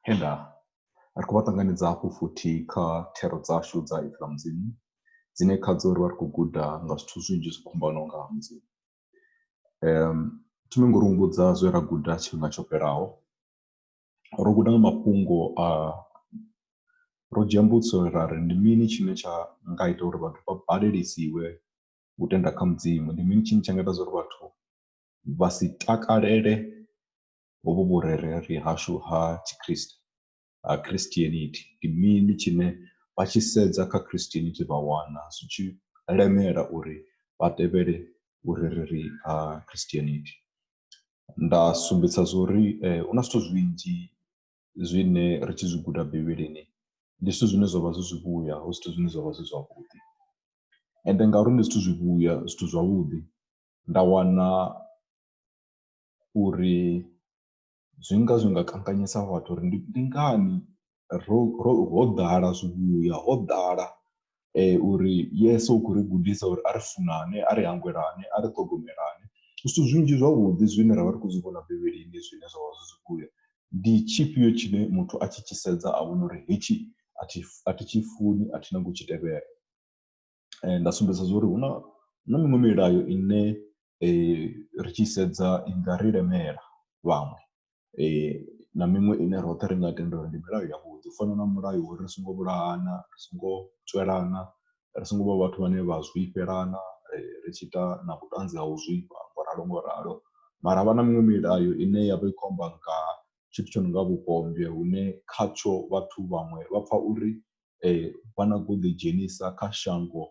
He nda ri khou vha ṱanganedza hafhu futhi kha thero dzashu dza Ipfi ḽa Mudzimu dzine khadzo ri vha ri khou guda nga zwithu zwinzhi zwo fhambanaho nga ha Mudzimu. Thi ngo ri humbudza zwe ra guda tshifhinga tsho fhelaho, ro guda nga mafhungo a, ro dzhia mbudziso ra ri ndi mini tshine tsha nga ita uri vhathu vha baleliwe u tenda kha Mudzimu, ndi mini tshine tsha nga ita zwa uri vhathu vha si takalele hovhu vhurereli hashu ha Tshikriste, ha Christianity, ndi mini tshine vha tshi sedza kha Christianity vha wana zwi tshi lemela uri vha tevhele vhurereli ha Christianity. Nda sumbedzisa zwa uri hu na zwithu zwinzhi zwine ri tshi zwi guda Bivhilini ndi zwithu zwine zwa vha zwi zwivhuya, hu zwithu zwine zwa vha zwi zwavhuḓi. Ende ngauri ndi zwithu zwivhuya, zwithu zwavhuḓi, nda wana uri zwi nga zwi nga kanganyisa vhathu uri ndi ndi ngani ro ro ho ḓala zwivhuya ho ḓala uri Yesu u khou ri gudisa uri a ri funane, a ri hangwelane, a ri ṱhogomelane. Zwithu zwinzhi zwavhuḓi zwine ra vha ri khou zwi vhona Bivhilini zwine zwa vha zwi zwivhuya, ndi tshifhio tshine muthu a tshi tshi sedza a vhona uri hetshi a thi a thi tshi funi a thi nyagi u tshi tevhela. nda sumbedza zwa uri hu na na miṅwe milayo ine ri tshi sedza i nga ri lemela vhaṅwe na miṅwe ine roṱhe ri nga tenda uri ndi milayo ya vhuḓi u fana na mulayo uri ri songo vhulahana ri songo tswelana ri songo vha vhathu vhane vha zwifhelana ri tshi ita na vhuṱanzi ha u zwifha ngo ralo ngo ralo. Mara havha na miṅwe milayo ine yavha i kho amba nga tshithu tsho no nga vhupombwe hune khatsho vhathu vhaṅwe vha pfha uri vha no khou ḓi dzhenisa kha shango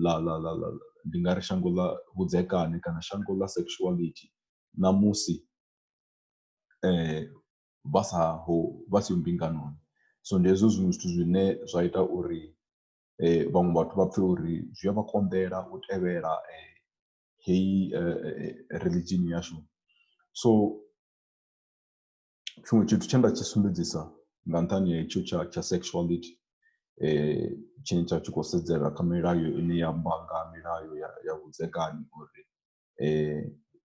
ḽa ḽa ḽa ḽa ndi nga ri shango ḽa vhudzekani kana shango ḽa sexuality ṋamusi vha sa ho vha siho mbinganoni. So ndi hezwo zwiṅwe zwithu zwine zwa ita uri vhaṅwe vhathu vha pfhe uri zwi a vha konḓela u tevhela heyi riḽidzhini yashu so. tshiṅwe tshithu tshe nda tshi sumbedzisa nga nṱhani ha itsho tsha tsha sexuality tshine tsha tshi khou sedzela kha milayo ine ya amba nga milayo ya ya vhudzekani uri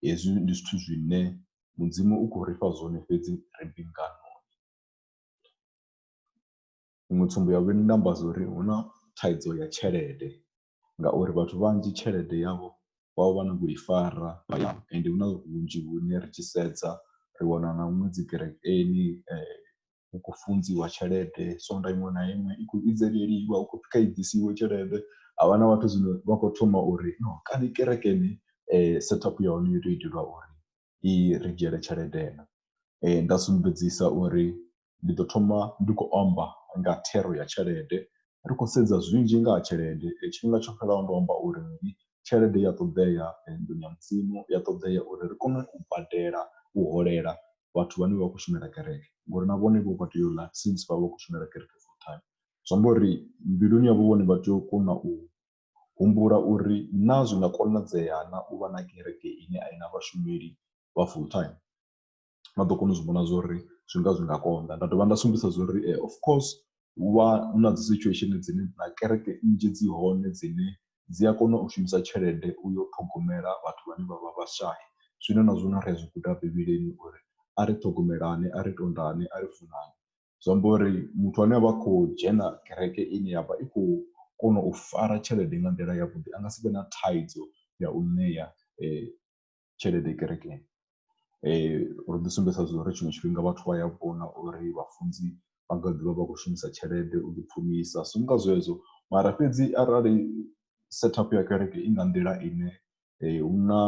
hezwi ndi zwithu zwine mudzimu u khou ri fha zwone fhedzi ri mbingano. Iṅwe tsumbo ya vhuvhili nda amba zwa uri hu na thaidzo ya tshelede ngauri vhathu vhanzhi tshelede yavho vha vha vha na vhoi fara hayani ende hu na hunzhi hune ri tshi sedza ri wana na huṅwe dzi kerekeni hu khou funziwa tshelede sonḓa iṅwe na iṅwe i khou vhidzelwa hu khou pfhi kha i ḓisiwe tshelede. Ha vha na vhathu zwino vha khou thoma uri no kana kerekeni set up ya hone yo tou itelwa uri i ri dzhiele tshelede na nda sumbedzisa uri ndi ḓo thoma ndi khou amba nga thero ya tshelede ri khou sedza zwinzhi nga ha tshelede tshifhinga tsho fhelelaho ndo amba uri ndi tshelede ya ṱoḓea nḓuni ya mudzimu ya ṱoḓea uri ri kone u badela u holela vhathu vhane vha khou shumela kereke ngori na vhone vho vha tea u ḽa since vha vha khou shumela kereke full time zwi amba uri mbiluni yavho vhone vha tea u kona u Humbula uri, Naa zwi nga konadzea na u vha na kereke ine a i na vhashumeli vha full-time? Vha ḓo kona u zwi vhona zwo ri zwi nga zwi nga konḓa. Nda dovha nda sumbedzisa zwo ri ee of course hu vha hu na dzi situation dzine na kereke nnzhi dzi hone dzine dzi a kona u shumisa tshelede u yo ṱhogomela vhathu vhane vha vha vhashai. Zwine na zwone ri a zwi guda Bivhilini uri a ri ṱhogomelane, a ri tondane, a ri funane. zwi amba uri muthu ane a vha khou dzhena kereke ine ya vha i khou kona u fara tshelede nga nḓila yavhuḓi a nga si vhe na thaidzo ya u ṋea tshelede kerekeni. Ro ḓi sumbedzisa zwa uri tshiṅwe tshifhinga vhathu vha ya vhona uri vhafunzi vha nga ḓivha vha khou shumisa tshelede u ḓi pfumisa zwi nga zwezwo mara fhedzi arali set up ya kereke i nga nḓila ine hu na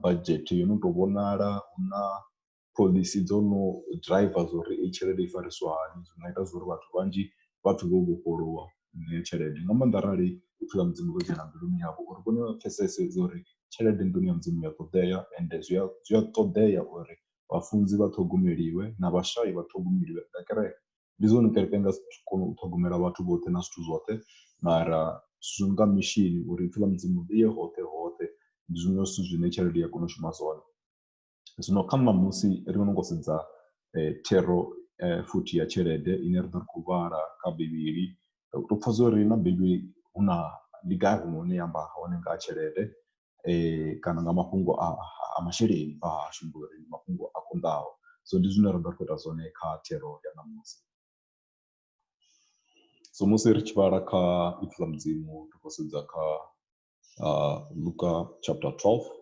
budget yo no tou vhonala hu na phoḽisi dzo no driver zwa uri eyi tshelede i fariswa hani zwi nga ita zwa uri vhathu vhanzhi vha pfhe vho vhofholowa nga heyo tshelede nga maanḓa arali zwithu zwa mudzimu zwo dzhena mbiluni yavho uri vhone vha pfhesese zwa uri tshelede nḓuni ya mudzimu ya ṱoḓea ende zwi a zwi a ṱoḓea uri vhafunzi vha ṱhogomeliwe na vhashai vha ṱhogomeliwe nga kereke. Ndi zwone kereke i nga si kone u ṱhogomela vhathu vhoṱhe na zwithu zwoṱhe mara zwi nga mishini uri ipfhi ḽa mudzimu ḽi ye hoṱhe hoṱhe ndi zwiṅwe zwithu zwine tshelede ya kona u shuma zwone. zwino kha ṋamusi ri no ngo sedza thero futhi ya tshelede ine ra ḓo ri khou vhala kha bivhili ri pfha zwa uri na bivhili hu na ndi gai huṅwe hune ya amba hone nga ha tshelede kana nga mafhungo a masheleni a hashu ngori ndi mafhungo a konḓaho so ndi zwine ra ḓo ri khou ita zwone kha thero ya ṋamusi. So musi ri tshi vhala kha ipfhi ḽa mudzimu ri khou sedza kha luka chapter 12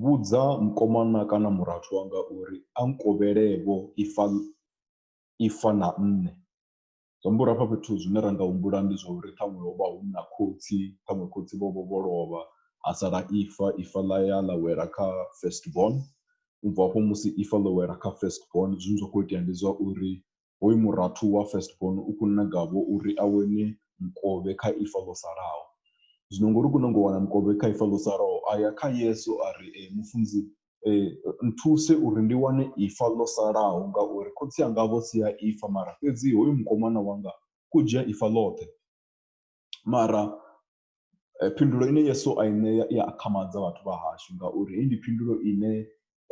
Vhudza mukomana kana murathu wanga uri a nkovhele-vho ifa ifa na nṋe. Zwi amba uri hafha fhethu zwine ra nga humbula ndi zwa uri ṱhaṅwe ho vha hu na khotsi, ṱhaṅwe khotsi vho vha vho lovha ha sala ifa, ifa ḽa ya ḽa wela kha first born. U bva hafho musi ifa ḽo wela kha first born zwine zwa khou itea ndi zwa uri hoyu murathu wa first born u khou nagavho uri a wane mukovhe kha ifa ḽo salaho zwino ngori u khou nanga u wana mukovhe kha ifa ḽo salaho a ya kha yesu a ri e, mufunzi e, nthuse uri ndi wane ifa ḽo salaho ngauri khotsi anga vho sia ifa mara fhedzi hoyu mukomana wanga khou dzhia ifa ḽoṱhe mara eh, phindulo ine yesu a i ṋea i a akhamadza vhathu vha hashu ngauri heyi ndi phindulo ine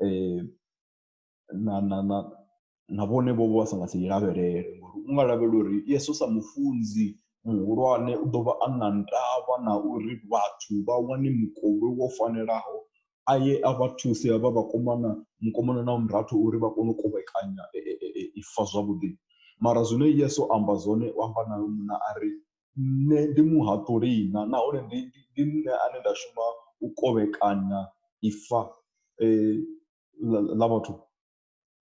eh, na na na na vhone vho vha sa nga si lavhelele ngori u nga lavhelela uri yeso sa mufunzi muhulwane u ḓo vha a na ndavha na uri vhathu vha wane mukovhe wo fanelaho a ye a vha thusi havha vhakomana mukomana na murathu uri vha kone u kovhekanya ifa zwavhuḓi mara zwine yeso amba zwone u amba na munna a ri nṋe ndi muhaṱuli na nahone ndi nṋe ane nda shuma u kovhekanya ifa . ḽa vhathu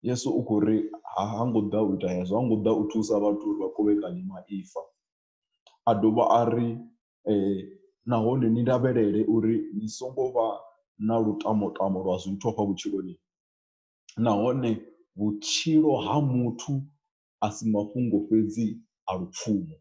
yesu u khou ri ha ngo ḓa u ita hezwo ha ngo ḓa u thusa vhathu uri vha kovhekanye maipfa a dovha a ri nahone ni lavhelele uri ni songo vha na lutamo tamo lwa zwithu hafha vhutshiloni nahone vhutshilo ha muthu a si mafhungo fhedzi a lupfhumo.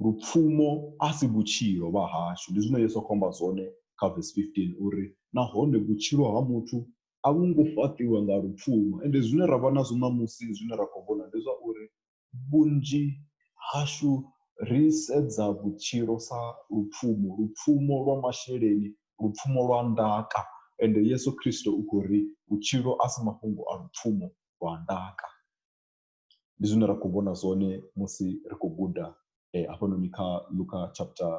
Lupfumo a si vhutshilo vha hashu. Ndi zwine Yesu a khou amba zwone kha vesi 15 uri, Nahone vhutshilo ha muthu a vhu ngo fhaṱiwa nga lupfumo. Ende zwine ra vha nazwo ṋamusi zwine ra khou vhona ndi zwa uri vhunzhi hashu ri sedza vhutshilo sa lupfumo, lupfumo lwa masheleni, lupfumo lwa ndaka. Ende Yesu Kristo u khou ri vhutshilo a si mafhungo a lupfumo lwa ndaka. ndi zwine ra khou vhona zwone musi ri khou guda eh, hafhanoni kha luka chapter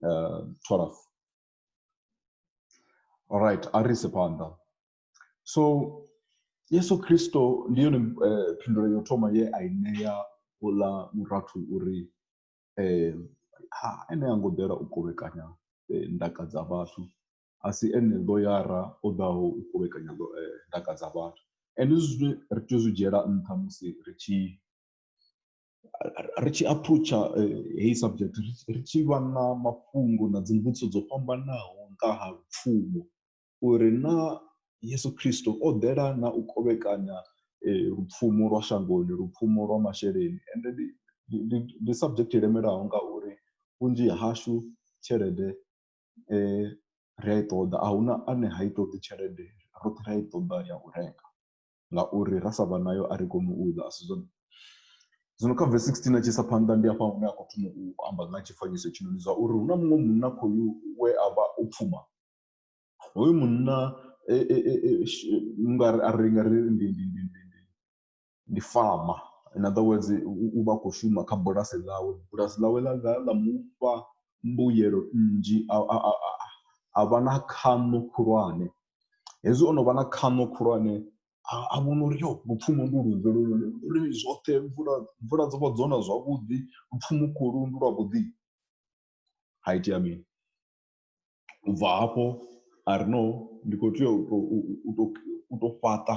uh, 12 alright a ri ise phanḓa so yesu kristo ndi yone eh, phindulo yo thoma ye a i ṋea uḽa murathu uri eh, ha ene a ngo ḓela u kovhekanya eh, ndaka dza vhathu a si ene ḽoyara o ḓaho u kovhekanya ndaka dza vhathu. Ende hezwi zwithu ri tea u zwi dzhiela nṱha musi ri tshi ri tshi aphuroutsha heyi subject ri tshi vha na mafhungo na dzi mbudziso dzo fhambanaho nga ha lupfumo uri naa Yeso Khristo o ḓela na u kovhekanya lupfumo lwa shangoni, lupfumo lwa masheleni. Ende ndi ndi ndi subject i lemelaho ngauri vhunzhi hashu tshelede ri a i ṱoḓa a huna ane ha i ṱoḓi tshelede roṱhe ra i ṱoḓa ya u renga ngauri ra sa vha nayo a ri koni u ḽa a si zwone. Zwino kha verse sixteen a tshi isa phanḓa ndi hafha hune a khou thoma u amba nga tshifanyiso tshino ndi zwa uri hu na muṅwe munna khoyu we a vha o pfhuma hoyu munna u nga ri a ri nga ri ndi ndi ndi ndi ndi ndi farmer in other words u vha a khou shuma kha bulasi ḽawe bulasi ḽawe ḽa ḽa ḽa mufha mbuyelo nnzhi a a a a a vha na khaṋo khulwane hezwi ono vha na khaṋo khulwane a vhona uri yo lupfhumo ndi lunzhi lune uri zwoṱhe mvula mvula dzi vha dzo na zwavhuḓi lupfhumo khulu ndi lwa vhuḓi ha itea mini. U bva hafho ari no ndi kho tea u to u to fhaṱa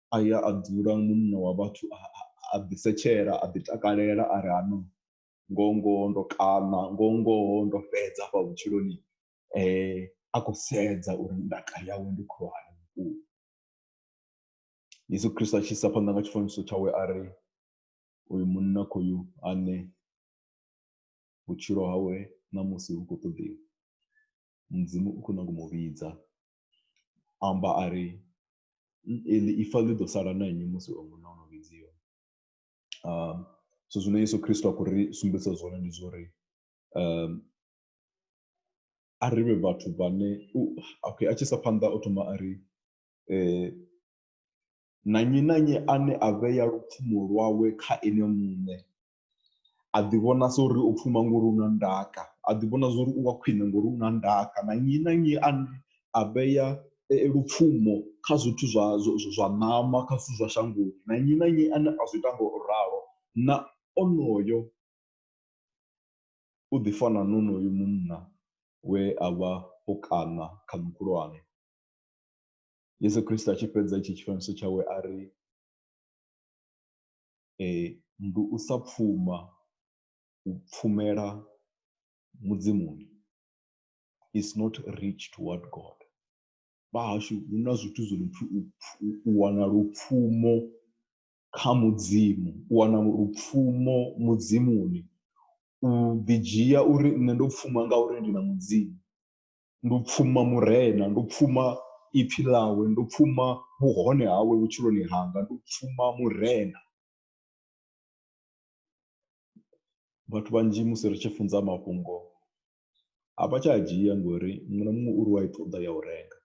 a ya a dzula munna wa vhathu a ḓisetshela a ḓitakalela a ri hano ngoho ngoho ndo kaṋa ngoho ngoho ndo fhedza afha vhutshiloni a khou sedza uri ndaka yawe ndi khulwane vhukuma yesu khristo a tshi isa phanḓa nga tshifanyiso tshawe a ri uyu munna khoyu ane vhutshilo hawe ṋamusi hu khou ṱoḓiwa mudzimu u khou nyago mu vhidza amba a ri ifa ḽi ḓo sala na nnyi musi o muṋe o no vhidziwa um so zwine yesu kristo a khou ri sumbedzisa zwone ndi zwa uri um a ri vhe vhathu vhane okay a tshi sa phanḓa o thoma a ri um na nnyi na nnyi ane a vhea lupfumo lwawe kha ene muṋe a ḓi vhona sa uri o pfuma ngori u na ndaka a ḓi vhona zwori u wa khwine ngori u na ndaka na nnyi na nnyi ane a vhea lupfumo kha zwithu zwa zwa ṋama kha zwithu zwa shangoni na nnyi na nnyi ane a zwi ita nga u ralo na onoyo u ḓi fana na onoyo munna we a vha o kaṋa khaṋo khulwane. Yeso Khristo a tshi fhedza itshi tshifanyiso tshawe a ri ndi u sa pfuma, u pfumela Mudzimuni is not rich toward God. Vha hashu hu na zwithu zwi no pfhi u u wana lupfumo kha Mudzimu, u wana lupfumo Mudzimuni, u ḓidzhia uri nṋe ndo pfuma ngauri ndi na Mudzimu. ndo pfuma murena ndo pfuma ipfhi ḽawe ndo pfuma vhuhone hawe vhutshiloni hanga ndo pfuma murena vhathu vhanzhi musi ri tshi funza mafhungo a vha tsha a dzhia ngori muṅwe na muṅwe uri wa i ṱoḓa ya u renga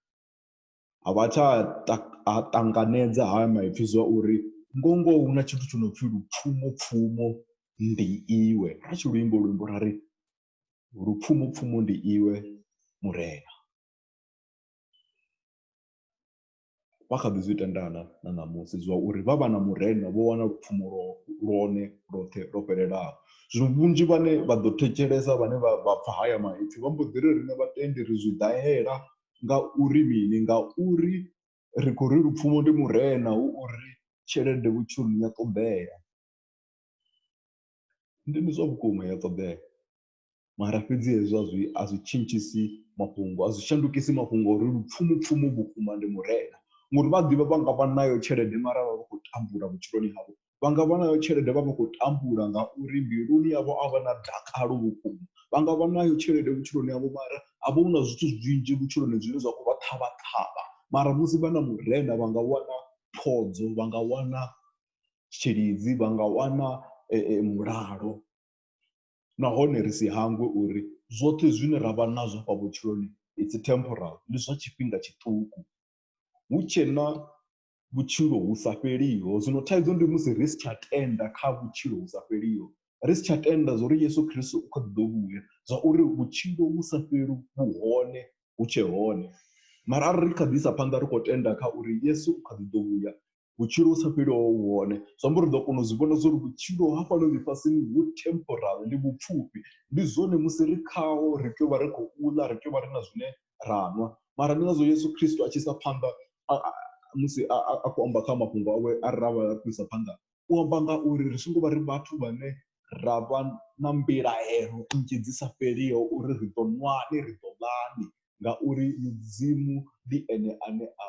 a vha tsha a ṱanganedza haya maipfhi zwa uri ngo ngoho hu na tshithu tsho no pfhi lupfumo pfumo ndi iwe ra tshi luimbo luimbo ra ri lupfumupfumu ndi iwe murena vha kha ḓi zwi tendana na ṋamusi zwa uri vha vha na murena vho wana lupfumo lwone lwoṱhe lwo fhelelaho zwino vhunzhi vhane vha ḓo thetshelesa vhane vha vha pfha haya maipfi vha mbo ḓi ri riṋe vhatendi ri zwi ḓahela nga uri mini nga uri ri khou ri lupfumo ndi murena hu uri tshelede vhutshiloni ya ṱoḓea Ndi ndi zwa vhukuma ya ṱoḓea mara fhedzi hezwo a zwi a zwi tshintshisi mafhungo a zwi shandukisi mafhungo uri lupfhumupfhumu vhukuma ndi murena ngori vha ḓivha vha nga vha nayo tshelede mara vha vha khou tambula vhutshiloni havho vha nga vha nayo tshelede vha vha khou tambula ngauri mbiluni yavho a vha na dakalo vhukuma vha nga vha nayo tshelede vhutshiloni havho mara a vha hu na zwithu zwinzhi vhutshiloni zwine zwa khou vha ṱhavha ṱhavha mara musi vha na murena vha nga wana phodzo vha nga wana tshilidzi vha nga wana mulalo. Nahone ri si hangwe uri zwoṱhe zwine ra vha nazwo afha vhutshiloni it's temporal, ndi zwa tshifhinga tshiṱuku. Hu tshe na vhutshilo vhu sa fheliho. Zwino thaidzo ndi musi ri si tsha tenda kha vhutshilo vhu sa fheliho, ri si tsha tenda zwa uri Yeso Kristo u kha ḓi ḓo vhuya, zwa uri vhutshilo vhu sa fheli vhu hone, hu tshe hone. Mara arali ri kha ḓi isa phanḓa ri khou tenda kha uri Yeso u kha ḓi ḓo vhuya, vhutshilo vhu sa fheli ho vha vhu hone zwi amba uri ri ḓo kona u zwi vhona zwa uri vhutshilo hafhanoni ḽifhasini vhu temporal ndi vhupfhufhi ndi zwone musi ri khaho ri tea u vha ri khou ḽa ri tea u vha ri na zwine ra nwa mara ndi ngazwo Yeso Khristo a tshi isa phanḓa musi a khou amba kha mafhungo awe a ri ra vha ri khou isa phanḓa u amba nga uri ri songo vha ri vhathu vhane ra vha na mbilahelo nnzhi dzi sa fheliho uri ri ḓo nwani ri ḓo ḽani ngauri mudzimu ndi ene ane a.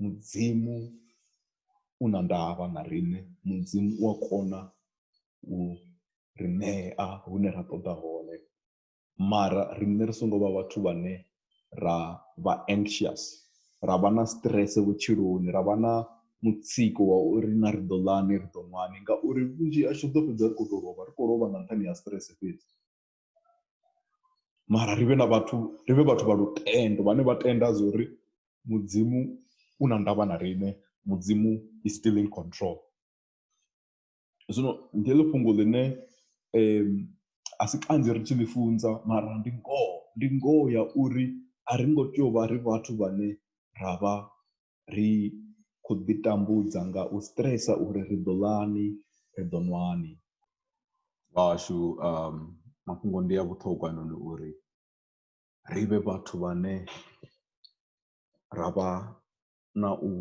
mudzimu u na ndavha na riṋe, mudzimu u a kona u ri ṋea hune ra ṱoḓa hone mara riṋe ri songo vha vhathu vhane ra vha anxious ra vha na stress vhutshiloni, ra vha na mutsiko wa uri na ri ḓo ḽani ri ḓo ṅwani ngauri vhunzhi hashu ri ḓo fhedza ri khou tou lovha ri khou lovha nga nṱhani ha stress fhedzi. mara ri vhe na vhathu ri vhe vhathu vha lutendo vhane vha tenda zwa uri mudzimu u na ndavha na riṋe mudzimu is still in control zwino ndi heḽo fhungo ḽine um a si kanzhi ri tshi ḽi funza mara ndi ngoho ndi ngoho ya uri a ri ngo tea u vha ri vhathu vhane ra vha ri khou ḓi tambudza nga u stresa uri ri ḓo ḽani ri ḓo nwani vhashu um mafhungo ndi a vhuṱhogwa noni uri ri vhe vhathu vhane ra vha na u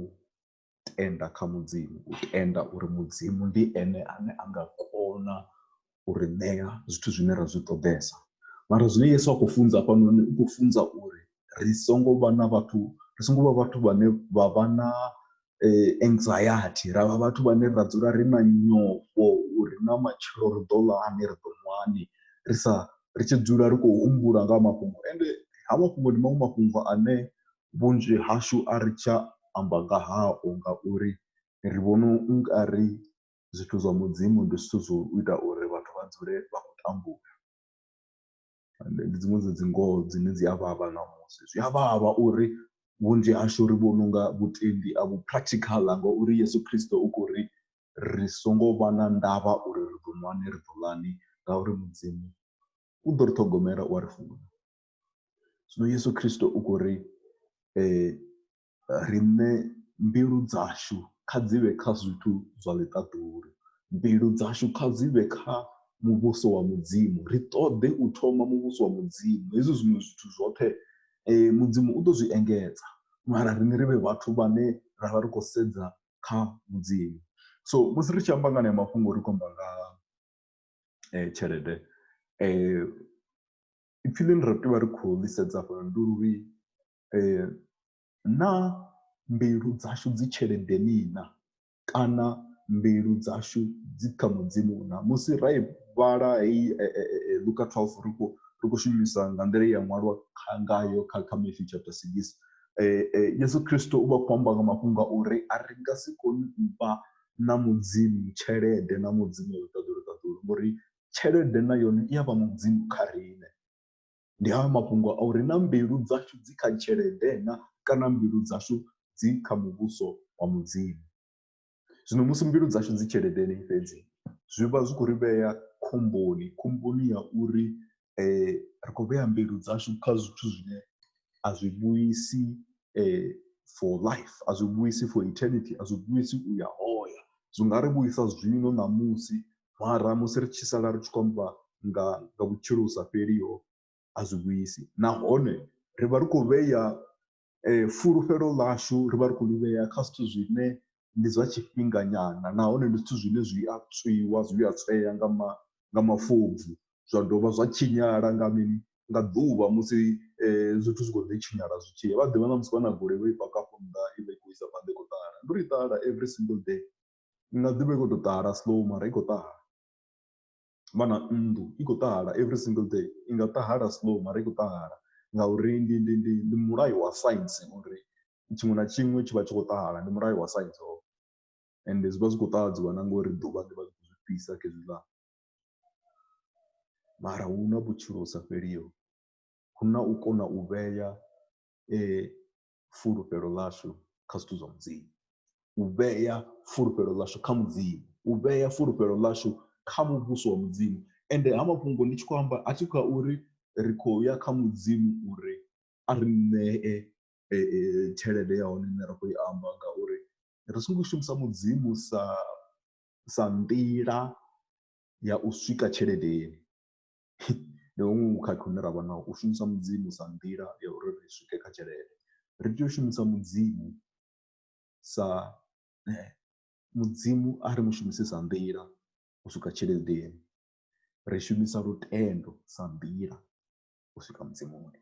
tenda kha mudzimu u tenda uri mudzimu ndi ene ane a nga kona u ri ṋea zwithu zwine ra zwi ṱoḓesa mara zwine yesu a khou funza hafhanoni u khou funza uri ri songo vha na vhathu ri songo vha vhathu vhane vha vha na eh, anxiety ra vha vhathu vhane ra dzula ri na nyofho uri na matshelo ri ḓo ḽani ri ḓo ṅwani ri sa ri tshi dzula ri khou humbula nga mafhungo ende ha mafhungo ndi maṅwe mafhungo ane vhunzhi hashu a ri tsha amba nga hao ngauri ri vhona u nga ri zwithu zwa mudzimu ndi zwithu zwo ita uri vhathu vha dzule vha khou tambula ende ndi dziṅwe dza dzi ngoho dzine dzi a vhavha ṋamusi zwi a vhavha uri vhunzhi hashu ri vhona unga vhutendi a vhu practical ngauri yesu khristo u khou ri ri songo vha na ndavha uri ri ḓo ṅwani ri ḓo ḽani ngauri mudzimu u ḓo ri ṱhogomela u a ri funa zwino yesu khristo u khou ri riṋe mbilu dzashu kha dzi vhe kha zwithu zwa ḽiṱaḓulu, mbilu dzashu kha dzi vhe kha muvhuso wa Mudzimu. Ri ṱoḓe u thoma muvhuso wa Mudzimu, hezwi zwiṅwe zwithu zwoṱhe Mudzimu u ḓo zwi engedza mara riṋe ri vhe vhathu vhane ra vha ri khou sedza kha Mudzimu. So musi ri tshi amba nga haneyo mafhungo ri khou amba nga tshelede, ipfhi ḽine ra tea u vha ri khou ḽi sedza hafhanoni ndi uri Naa mbilu dzashu dzi tsheledeni na? Kana mbilu dzashu dzi kha Mudzimu na? Musi ra i vhala heyi Luka 12 ri khou ri khou shumisa nga nḓila ye ya ṅwalwa ngayo kha kha Mathew chapter 6, Yesu Kristo u vha a khou amba nga mafhungo a uri a ri nga si kone u vha na Mudzimu tshelede na Mudzimu ṱaḓulu ṱaḓulu ngori tshelede na yone i ya vha mudzimu kha riṋe. ndi hayo mafhungo a uri na mbilu dzashu dzi kha tshelede na kana mbilu dzashu dzi kha muvhuso wa Mudzimu. Zwino musi mbilu dzashu dzi tsheledeni fhedzi zwi vha zwi khou ri vhea khomboni, khomboni ya uri ri khou vhea mbilu dzashu kha zwithu zwine a zwi vhuisi for life, a zwi vhuisi for eternity, a zwi vhuisi u ya hoya. Zwi nga ri vhuisa zwino ṋamusi mara musi ri tshi sala ri tshi khou amba nga nga vhutshilo vhu sa fheliho a zwi vhuisi nahone ri vha ri khou vhea fulufhelo ḽashu ri vha ri khou ḽi vhea kha zwithu zwine ndi zwa tshifhinga nyana nahone ndi zwithu zwine zwi a tswiwa zwi a tsweya nga ma nga mafobvu zwa dovha zwa tshinyala nga mini nga ḓuvha musi zwithu zwi kho ḓi tshinyala zwi tshi ya vha ḓivha na musi vha na goloi vho i paka afho nnḓa ivha i kho isa phanḓa i kho ṱahala ndi uri i ṱahala every single day i nga ḓivha i khou tou ṱahala slow mara i khou ṱahala vha na nnḓu i khou ṱahala every single day i nga ṱahala slow mara i khou ṱahala ngauri ndi ndi ndi ndi mulayo wa saintsi uri tshiṅwe na tshiṅwe tshi vha tshi khou ṱahala ndi mulayo wa saintsi hoyo ende zwi vha zwi khou ṱahadziwa na ngori ḓuvha ḽi vha ḽi khou zwi fhisa khezwiḽa mara hu na vhutshilo hu sa fheliho hu na u kona u vhea fulufhelo ḽashu kha zwithu zwa mudzimu u vhea fulufhelo ḽashu kha mudzimu u vhea fulufhelo ḽashu kha muvhuso wa mudzimu ende ha mafhungo ndi tshi khou amba a thi kha uri ri khou ya kha mudzimu uri a ri ṋee tshelede ya hone ine ra khou i amba ngauri ri songo shumisa mudzimu sa sa nḓila ya u swika tshelede. ndi huṅwe vhukhakhi hune ra vha naho u shumisa mudzimu sa nḓila ya uri ri swike kha tshelede ri tea u shumisa mudzimu sa mudzimu a ri mushumise sa nḓila u swika tsheledeni ri shumisa lutendo sa nḓila u swika muzimoni.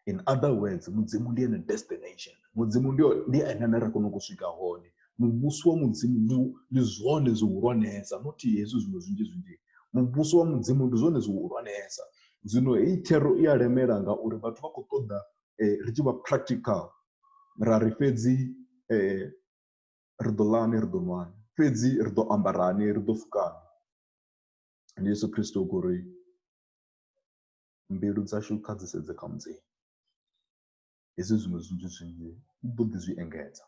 in other words mudzimu ndi ene destination mudzimu ndi ndi ene ane ra kona u swika hone muvhuso wa mudzimu ndi ndi zwone zwihulwanesa not hezwi zwiṅwe zwinzhi zwinzhi muvhuso wa mudzimu ndi zwone zwihulwanesa zwino heyi thero i a lemela ngauri vhathu vha khou ṱoḓa eh, ri tshi vha practical ra ri fhedzi eh, ri ḓo ḽani ri ḓo nwani fhedzi ri ḓo ambarani ri ḓo fukani ndi yesu kristo u khou ri mbilu dzashu kha dzi sedze kha Mudzimu. Hezwi zwiṅwe zwinzhi zwinzhi u ḓo ḓi zwi engedza.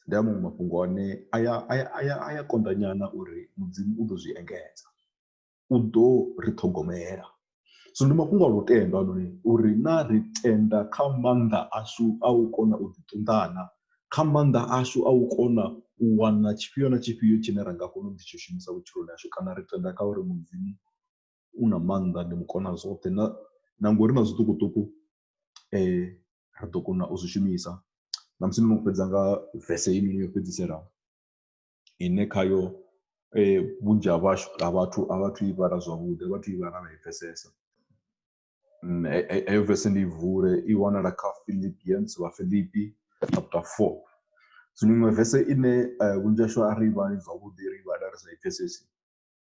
Ndi a maṅwe mafhungo ane a ya a ya a ya a ya konḓa nyana uri Mudzimu u ḓo zwi engedza. U ḓo ri ṱhogomela. Zwino ndi mafhungo a lutendo anoni uri na ri tenda kha maanḓa ashu a u kona u ḓiṱunḓana kha maanḓa ashu a u kona u wana tshifhio na tshifhio tshine ra nga kona u ḓi tshi shumisa vhutshiloni hashu kana ri tenda kha uri Mudzimu u na maanḓa ndi mu kona zwoṱhe na na ngori na zwiṱukuṱuku ri ḓo kona u zwi shumisa na musi no fhedza nga vese heinoni yo fhedzisela ine khayo vhunzhi ha vhashu ha vhathu a vhathu i vhala zwavhuḓi a vhathu i vhala vha i pfhesesa heyo vese ndi i vule i wanala kha Philippians vhafilipi chapter four zwino iṅwe vese ine vhunzhi hashu a ri i vhali zwavhuḓi ri i vhala ri sa i pfhesesi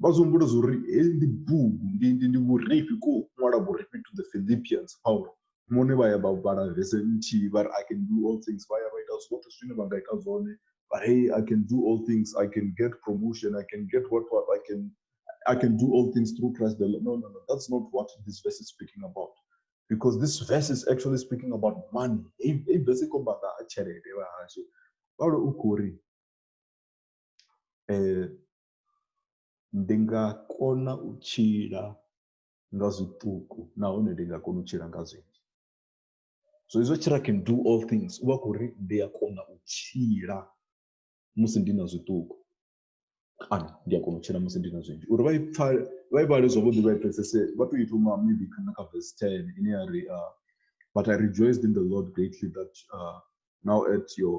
vha zwi humbula zwa uri heyi ndi bugu ndi ndi ndi vhurifhi ko ṅwala vhurifhi to the philippians paulo mone vha ya vha vhala vese nthihi vha ri i can do all things vha ya vha ita zwoṱhe zwine vha nga ita zwone but hey i can do all things i can get promotion i can get what what i can i can do all things through christ the Lord. no no no that's not what this verse is speaking about because this verse is actually speaking about money heyi heyi verse i khou amba nga ha tshelede vha hashu paulo u khou ri Ndi nga kona u tshila nga zwiṱuku nahone ndi nga kona u tshila nga zwinzhi, so hezwi tshila can do all things u vha a khou ri ndi a kona u tshila musi ndi na zwiṱuku kana ndi a kona u tshila musi ndi na zwinzhi uri vha i pfha vha i vhale zwavhuḓi vha i pfhesese vha tou i thoma maybe kha na kha verse ten ine ya ri but I rejoiced in the Lord greatly that now at your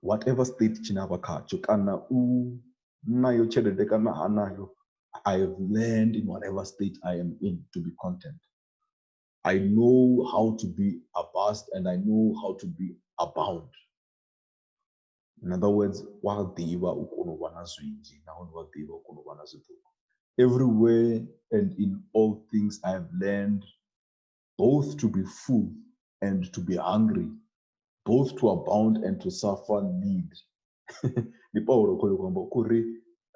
whatever state tshine a vha khatsho kana u nayo tshelede kana ha nayo i have learned in whatever state i am in to be content i know how to be abased and i know how to be abound in other words wa ḓivha u kona u vha na zwinzhi nahone wa ḓivha u kona u vha na zwiṱuku everywhere and in all things i have learned both to be full and to be hungry, both to abound and to suffer need. ndi paulo khoyo kwamba kuri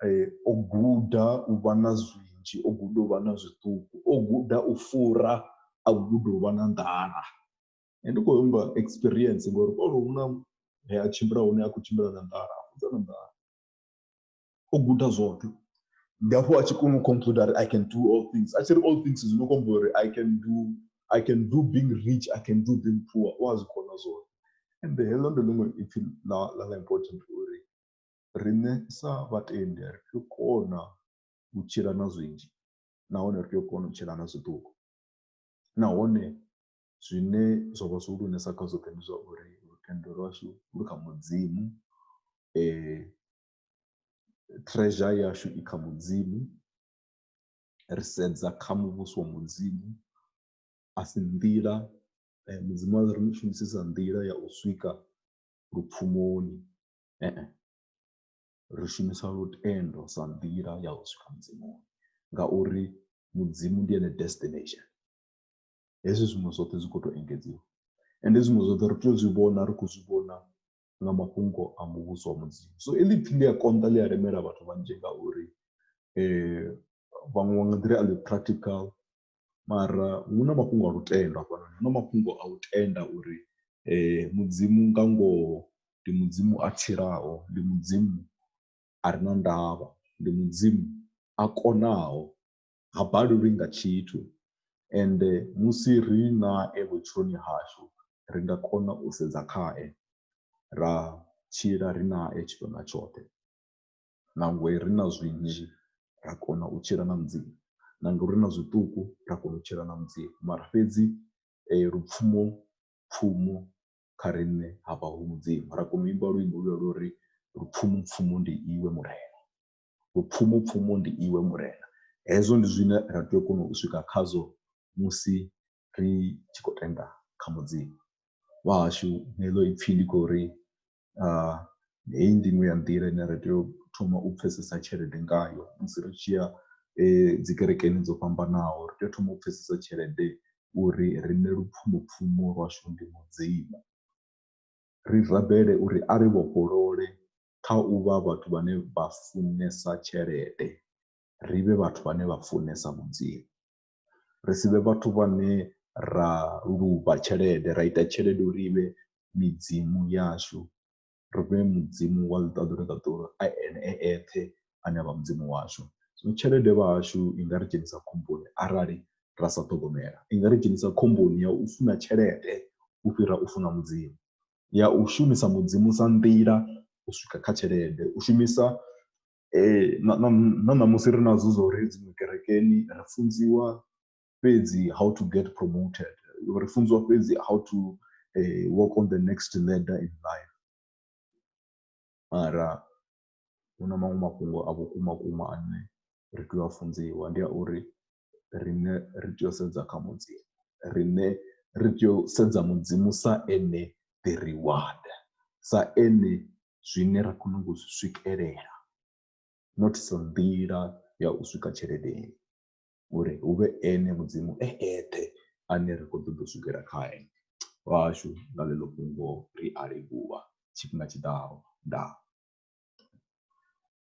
eh, o guda u vha na zwinzhi o guda u vha na zwiṱuku o guda u fura a guda u vha na nḓala ndi khou humbula experience ngori paulo hu na he a tshimbila hune a khou tshimbila na nḓala a fudza na nḓala o guda zwoṱhe ndi hafho a tshi kona u conclude ari i can do all things a tshi ri all things zwi no khombo uri i can do i can do being rich i can do being poor u a zwi kona zwoṱhe ende heḽo ndi ḽiṅwe ipfhi ḽa ḽa ḽa important uri riṋe sa vhatendi ri tea u kona u tshila na zwinzhi nahone ri tea u kona u tshila na zwiṱuku nahone zwine zwa vha zwi lunesa kha zwoṱhe ndi zwa uri lutendo lwashu lu kha mudzimu um treasure yashu i kha mudzimu ri sedza kha muvhuso wa mudzimu a si nḓila eh, mudzimu a ri shumisisa nḓila ya u swika lupfumoni ee ri shumisa lutendo sa nḓila ya u swika mudzimuni ngauri mudzimu ndi ene destination hezwi zwiṅwe zwoṱhe zwi khou tou engedziwa ende zwiṅwe zwoṱhe ri tea u zwi vhona ri khou zwi vhona nga mafhungo a muvhuso wa mudzimu so heḽi ipfhi ḽi a konḓa ḽi a lemela vhathu vhanzhi ngauri vhaṅwe vha nga ḓiri a ḽi practical mara hu na mafhungo a lutendo hafhanoni hu na mafhungo a u tenda uri mudzimu nga ngoho ndi mudzimu a tshilaho ndi mudzimu a re na ndavha ndi mudzimu a konaho. ha balelwi nga tshithu ende musi ri nae vhutshiloni hashu ri nga kona u sedza khae ra tshila ri nae tshifhinga tshoṱhe nangwe ri na zwinzhi ra kona u tshila na Mudzimu na ngori ri na zwiṱuku ra kona u tshila na Mudzimu mara fhedzi lupfumo pfumo kha riṋe ha vha hu Mudzimu ra kona u imba luimbo lwa lwo ri lupfumo pfumo ndi iwe Murena. Vhupfumupfumu ndi Iwe Murena. Hezwo ndi zwine ra tea u kona u swika khazwo musi ri tshi khou tenda kha Mudzimu wahashu. Heḽo ipfhi ndi khou ri heyi ndi iṅwe ya nḓila ine ra tea u thoma u pfhesesa tshelede ngayo musi ri tshi ya dzi kerekeni dzo fhambanaho. Ri tea u thoma u pfhesesa tshelede uri riṋe lupfhumopfumo lwashu ndi Mudzimu ri rabele uri a ri vhofholole kha u vha vhathu vhane vha funesa tshelede ri vhe vhathu vhane vha funesa Mudzimu. Ri si vhe vhathu vhane ra luvha tshelede ra ita tshelede uri ivhe midzimu yashu ri fhe mudzimu wa ḽiṱaḓulu ḽa ṱuwa a ene a eṱhe ane avha mudzimu washu. Zwino tshelede vhahashu i nga ri dzhenisa khomboni arali ra sa ṱhogomela i nga ri dzhenisa khomboni ya u funa tshelede u fhira u funa mudzimu ya u shumisa Mudzimu sa nḓila u swika kha tshelede u shumisa na na ṋamusi ri nazwo zwa uri dziṅwe kerekeni ri funziwa fhedzi how to get promoted ri funziwa fhedzi how to work on the next leader in life mara hu na maṅwe mafhungo a vhukuma vhukuma ane ri tea u a funziwa ndi a uri riṋe ri tea u sedza kha mudzimu riṋe ri tea u sedza mudzimu sa ene the reward sa ene zwine ra khou nyanga u zwi swikelela not sa nḓila ya u swika tsheledeni uri hu vhe ene mudzimu e eṱhe ane ra khou ṱoḓa u swikela khae vhashu nga ḽeḽo fhungo ri a livhuwa tshifhinga tshiḓaho ndaa.